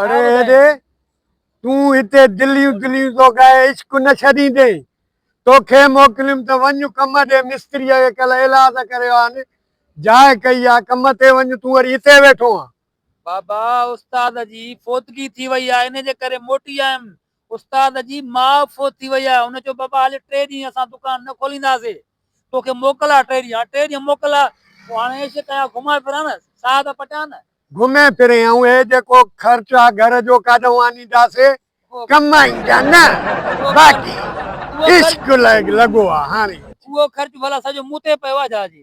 اڙي هيڏي تون هتي دليون دليون ٿو ڪرين عشق نه ڇڏيندين توکي موڪليم ته وڃ ڪم ڏي مستريء کي ڪل ايلاز ڪريو آهن جاء ڪئي آهي ڪم تي وڃ تون وري هتي ويٺو آهين بابا استاد جي فوتگي ٿي وئي آ ان جي ڪري موٽي آيم استاد جي ماء فوت ٿي وئي آ ان چيو بابا هل ٽي ڏينهن اسان دڪان نه کولينداسي توکي موڪل آ ٽي ڏينهن هاڻ ٽي ڏينهن موڪل آ پوء هاڻ عيش ڪيان گهمان ڦران نه ساهه ته پٽيان نه. گهمي ڦري ائون هي جيڪو خرچ آ گهر جو ڪاڏهون آنينداسي ڪم آئين جا نه باقي عشق لڳو آ هاڻي اهو خرچ ڀلا سڄو مون تي پيو آ جا جي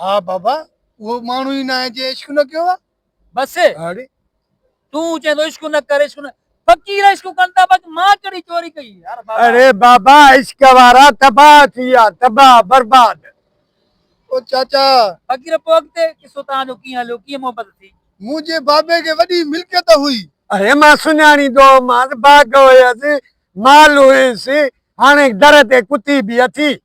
ها بابا اهو ماڻهو ئي ناهي جنهن عشق نه ڪيو آهي. بس اڙي تون چين ٿو عشق نه ڪر عشق نه فقير عشق ڪن ٿا باقي مان ڪهڙي چوري ڪئي يار بابا. اڙي بابا عشق وارا تباهه ٿي ويا تباهه برباد. او چاچا. فقير پوء اڳتي قصو توهان جو ڪيئن هليو ڪيئن محبت ٿي. منهنجي بابي کي وڏي ملڪيت هئي. اڙي مان سڃاڻي ٿو مانس باغ هيس مال هيس هاڻي در تي ڪتي به اٿي.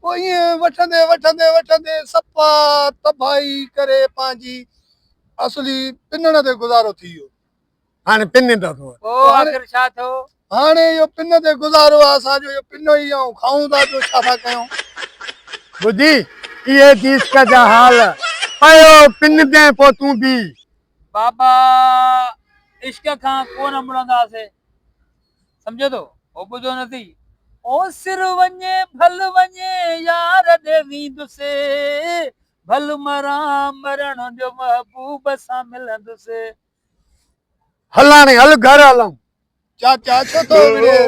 پوء ائين وٺندي وٺندي وٺندي سپا تباهي ڪري پنهنجي اصلي پنڻ تي گذارو ٿي ويو. هاڻي پني ته اٿو. پوء آخر ڇا ٿيو؟ هاڻي اهو پن تي گذارو آهي اسان جو اهو پنو ئي آئون کائون ٿا ٻيو ڇا ٿا ڪيون. ٻڌي اهي تيسڪ جا حال. پيو پن تي پوء تون بيهه. بابا عشق کان ڪونه مڙنداسين. سمجهين ٿو، هو ٻڌو نه ٿي. اوسر وڃي ڀل وڃي يار ڏي ويندس، ڀل مران مرڻ جو محبوب سان ملندس. هلڻ هل گهر هلون. چاچا ڇو ٿو وڙهي،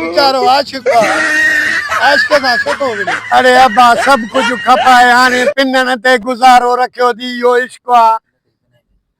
ويچارو عاشق آ، عاشق سان ڇو ٿو وڙهي. اڙي ابا سڀ ڪجهه کپائي هاڻي پنڻ تي گذارو رکيو ٿي، اهو عشق آ.